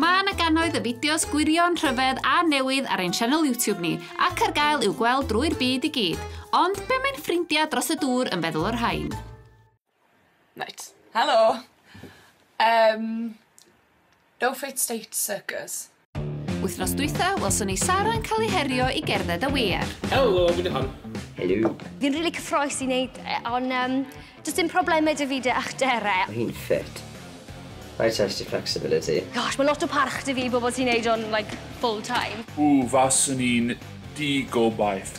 Mae yna gannoedd y fideos gwirion, rhyfedd a newydd ar ein sianel YouTube ni, ac ar gael i'w gweld drwy'r byd i gyd. Ond be mae'n ffrindiau dros y dŵr yn feddwl o'r rhain? Reit, helo! Um, No fit state circus. Wythnos dwytha, welson ni Sara yn cael ei herio i gerdded a wear. Helo, fi Dychan. Helo. Fi'n rili cyffroes i wneud e, ond um, does dim problemau dy fi dy a'ch dere. Mae hi'n ffit. Rhaid test your flexibility. Gosh, mae lot o parch dy fi i bobl sy'n neud o'n, like, full time. Ww, faswn i'n di gobaith.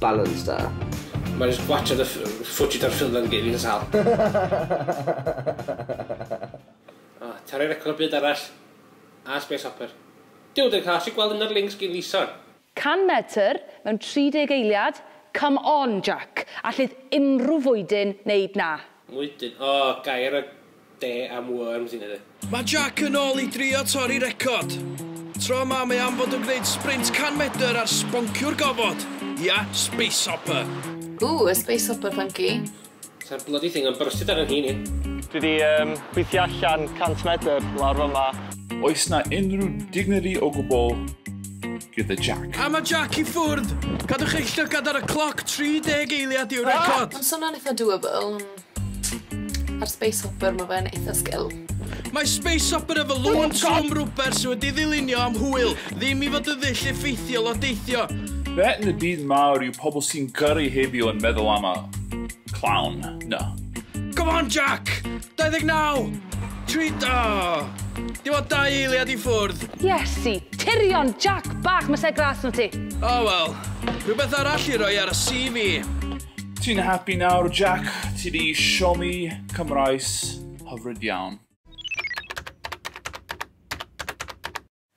Balance da. Mae jyst gwatsiad y ff- footage o'r ffilm yn gei fi'n sâl. O, torri record byd arall. A Space Hopper. Duw, dyn cael allu gweld un o'r links gin Lison. 100 metr mewn 30 eiliad? Come on, Jack! Allith unrhyw fwydyn neud 'na. Mwydyn? O, gair y Dde am worms yn hynny. Mae Jack yn ôl i drio torri record. Tro yma mae am fod yn gwneud sprint 100 medr ar sbonciwr gofod. Ia, space hopper. Ooh, a space hopper funky. Sa'r bloody thing yn brysyd ar 'y nhîn i. Dwi 'di yym gweithio allan 100 medr lawr fama. Oes 'na unrhyw dignity o gwbl gyda Jack? A ma Jack i ffwrdd! Cadwch eich llygad ar y cloc, 30 eiliad yw'r record! Ma'n swnio'n itha doable. Mae'r Space Hopper yma fe'n eitha sgil. Mae Space Hopper efo lŵn swm rwber sydd wedi ddilynio am hwyl, ddim i fod yn ddull effeithiol o deithio. Be yn y byd mawr yw pobl sy'n gyrru heddiw yn meddwl am y clown 'na? Come on Jack! 29! Tri... O! Dim ond dau eiliad i ffwrdd. Iesu! Tirion! Jack bach, mae 'se gras 'na ti. O wel, rhywbeth arall i roi ar y CV. Ti'n happy nawr, Jack? Ti di siomi Cymraes hyfryd iawn.